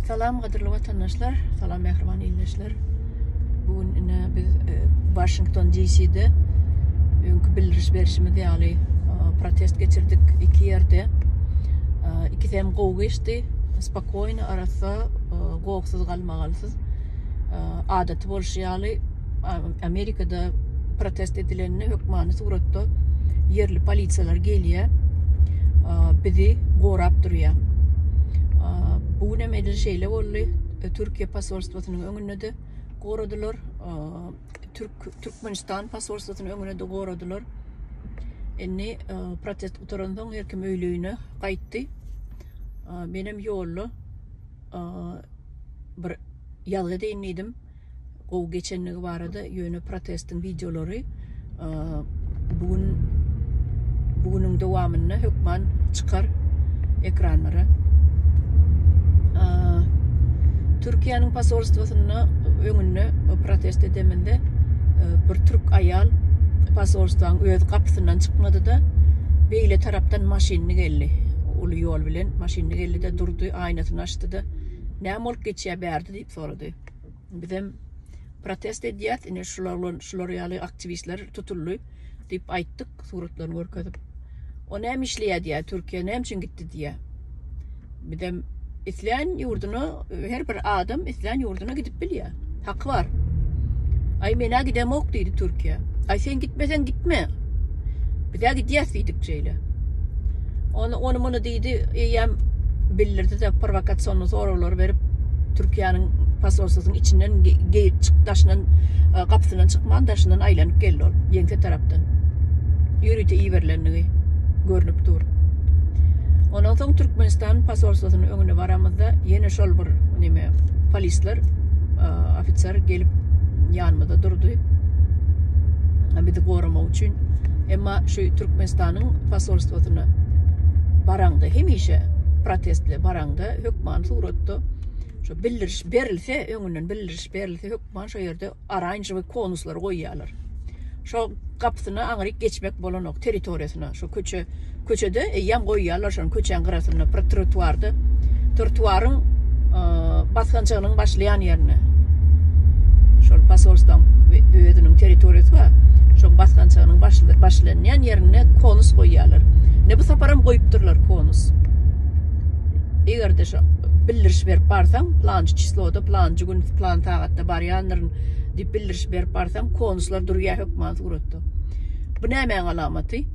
Salam gadyrly watandaşlar, salam mähriban ildeşler. Bu gün ine biz e, Washington DC-de öňki bildiriş berişimiz ýaly e, protest geçirdik iki ýerde. E, ikisi hem gowy geçdi. Spokojny arassa, e, gowsuz galmagalsyz. E, adaty bolşy ýaly Amerikada protest edilende hökmany suratda ýerli polisiýalar gelýär. Bizi gorap durýar. Bu gün hem edil şeýle boldy. E, Türkiýe posolstwosynyň öňünde de goradylar. Türk Türkmenistan posolstwosynyň öňünde de goradylar. Indi protest gutarandan her kim öýlügine gaýtdy. Menem ýolda bir ýazgy deýin diýdim. gowy geçenligi barada ýöne protestiň wideolary bu gün bu günüň dowamynda hökman çykar ekranlara. Türkiýäniň posolstwosynda öňünde protest edeminde e, bir türk aýal posolstwaň öz gapysyndan çykmady-da, beýle tarapdan maşynyny geldi. Uly ýol bilen maşynyny geldi-de durdy, aýnasyny açdy-da, näme bolup geçýär bärde diýip sorady. Bizem protest edýäs. Ine şular bilen şular ýaly aktiwistler tutuldy diýip aýtdyk, suratlaryny görkezip. O näme işleýär diýär, Türkiýä näme üçin gitdi diýär. Bizem islän ýurduna her bir adam islän ýurduna gidip bilýär. Haky bar. Aý menä gidemok diýdi Türkiýä. Aý sen gitmeseň gitme. Bizä gidýäs diýdik şeýle. Ony ony muny diýdi, eýýäm bildirdi-de prowokasion soraglar berip, Türkiýäniň posolstwasynyň içinden geýip çyk daşyndan e, gapysyndan çykman daşyndan aýlanyp geldi ol ýeňse tarapdan. Ýörite iberilendigi görnüp dur. Ondan soň Türkmenistan posolstwasynyň öňüne baramyzda ýene şol bir neme polisler e, ofiser gelip ýanymyzda durdy. Bizi goramak üçin Şu Türkmenistanyň posolstwosyna baraňda hemişe protestli baraňda hökman suratda şu bildiriş berilse öňünden bildiriş berilse hökman şu ýerde oranžowy konuslary goýýarlar. Şo gapysyna aňryk geçmek bolanok territoriýasyna. Şo köçe köçede eýýäm goýýarlar. Şeýlelikde, köçäň gyrasynda bir trotuarda, trotuaryň e, basgançagynyň başlaýan ýerinde şol posolstwaň özüniň territoriýasy bar. Şoň basgançagynyň başlanýan ýerinde konus goýýarlar. Ne bu sapar hem goýupdyrlar konus. Eger-de şu bildiriş berip barsaň, plançy çisloda, plançy gün, plan sagatda barýandyryn diýip bildiriş berip barsaň, konuslar durýar hökman suratda. Bu nämäň alamaty?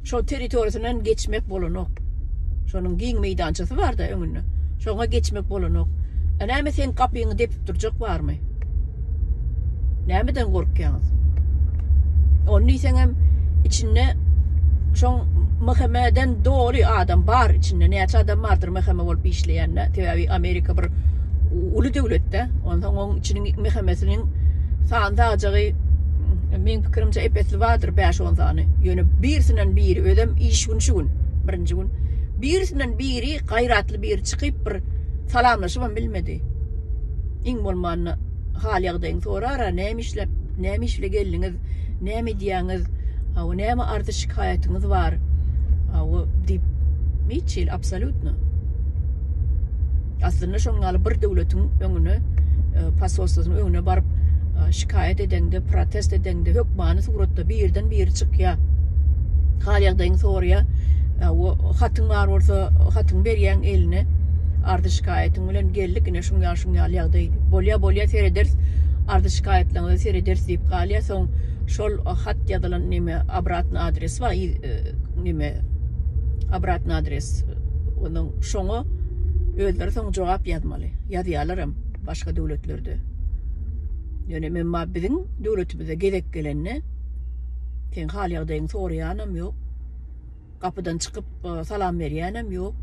Şo territoriýasyndan geçmek bolanok. Şonuň giň meýdançasy bar-da öňünde. Şoňa geçmek bolanok. A näme seň gapyňy depip durjak barmy? Nämeden gorkýaňyz? Ony diýseň hem içinde şoň MHM-den doly adam bar içinde. Näçe adam bardyr MHM bolup işleýände? Sebäbi Amerika bir uly döwlet-de. Onsoň oň içiniň MHM-siniň sany-sagajagy Meň pikirimçe epesli bardyr bäş-on sany. Ýöne birisinen biri özem iş gün şu gün. Birinji gün. Birisinen biri gaýratly biri çykyp bir salamlaşybam bilmedi. Iň bolmanda hal ýagdaýyňy sorar-a näme işläp, näme iş bile geldiňiz, näme edýäňiz, hawa näme arzy şikaýatyňyz bar, hawa diýip hiç hili absolýutno. Aslynda şoň ýaly bir döwletiň öňüne, e, posolstwasyň öňüne baryp e, şikaýat edeňde, protest edeňde hökmany suratda birden biri çykýar. Hal ýagdaýyňy soraýar. E, o hatyň bar bolsa, hatyň berýäň eline. Ardy şikaýatyň bilen geldik, ine şuň ýaly şuň ýaly ýagdaý. Bolýa bolýa serederis. Ardy şikaýatlaryňyzy serederis diýip galýar. Soň şol hat ýazylan neme obratny adres bar, e, neme obratny adres Onuň şoňa özleri soň jogap ýazmaly. Ýazýarlaram başga döwletlerde. Ýöne memma biziň döwletimize gezek gelende seň hal ýagdaýyňy soraýanam ýok. Gapydan çykyp salam berýänem ýok.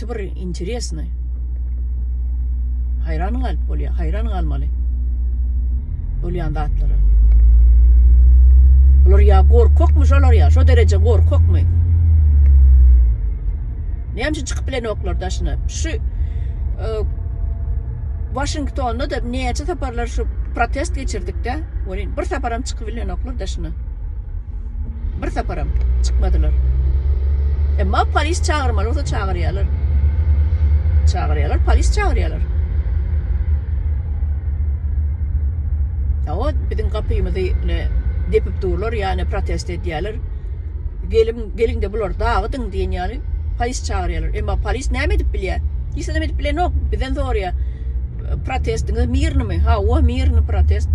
gaty bir interesny. Hayran galyp bolýar, hayran galmaly. Bolýan zatlara. Bular ya gorkakmy şolar ya, şo dereje gorkakmy? Näme üçin çykyp bilenoklar daşyna? Şu e, Washingtonda da näçe saparlar şu protest geçirdik de, bir saparam çykyp bilenoklar daşyna. Bir saparam çykmadylar. Emma polis çagyrmaly bolsa çagyrýarlar. Çagyrýarlar, polis çagyrýarlar. Awa biziň gapymyzy ne depip durlar, ýa ne protest edýärler. Gelim, geliň de bular dagydyň diýen ýaly polis çagyrýarlar. Emma polis näme edip bilýär? Hiç zat edip bilenok, bizden sorýar. Protestiňiz mirnymy? Hawa, mirny protest.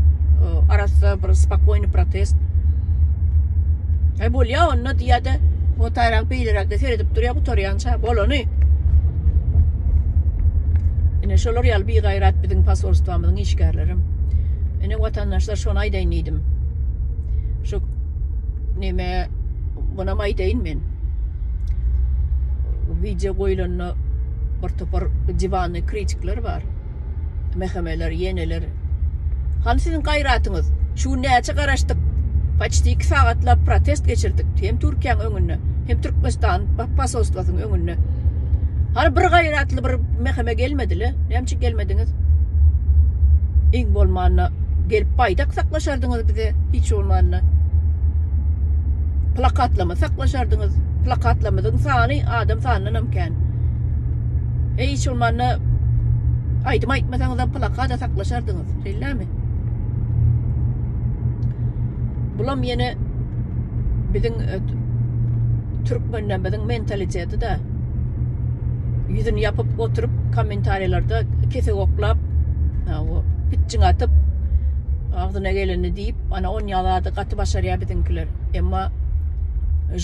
Arassa bir spokojny protest. E bolýa onda diýýärdi. O taýrak beýleräkde seredip durýa gutarýança bolany. Ine şolar ýaly bigaýrat biziň posolstwamyzyň işgärlerim. Ine watandaşlar şony aýdaýyn diýdim. Şu neme buna aýdaýyn men. Wideo goýulanda bir topar diwanly kritikler bar. Mehemeler, ýeneler. Hany siziň gaýratyňyz? Şu gün näçe garaşdyk? Paçti iki sagatlap protest geçirdik. Hem Türkiýäň öňünde, hem Türkmenistan posolstwasynyň öňünde. Hany bir gaýratly bir meheme gelmedi-le? Näme üçin gelmediňiz? Iň bolmanda gelip baýdak saklaşardyňyz bize, hiç bolmanda. Plakatlama saklaşardyňyz. Plakatlamyzyň sany adam sanyndan hem eken. Eý, şol manda aýdym aýtmasaňyzam plakada saklaşardyňyz, şeýlemi? Bulam ýene biziň e, türkmenlerimiziň mentaliteti de ýüzüni ýapyp oturyp kommentariýalarda kesek oklap pitçiň atyp agzyna geleni diýip ana on ýalady gaty başarýar biziňkiler emma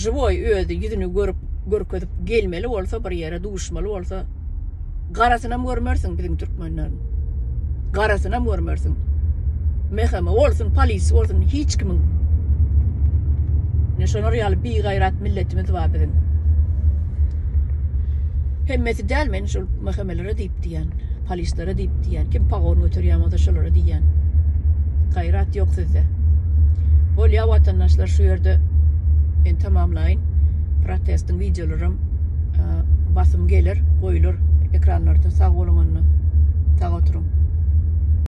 живой özi ýüzüni görüp görkezip gelmeli bolsa bir ýere duşmaly bolsa garasynam görmersiň biziň türkmenleriň garasynam görmersiň meheme bolsun polis bolsun hiç kimiň ne şolar ýaly bir gaýrat milletimiz bar biziň hemmesi däl men şol mehemelere diýip diýip diýýän. Polislere diýip diýýän. Kim pagon göterýän bolsa şolara diýýän. Gaýrat ýok sizde. Bolýa watandaşlar şu ýerde men tamamlaýyn. Protestiň wideolaram basym geler, goýlar ekranlarda sag boluň onda. Sag oturyň.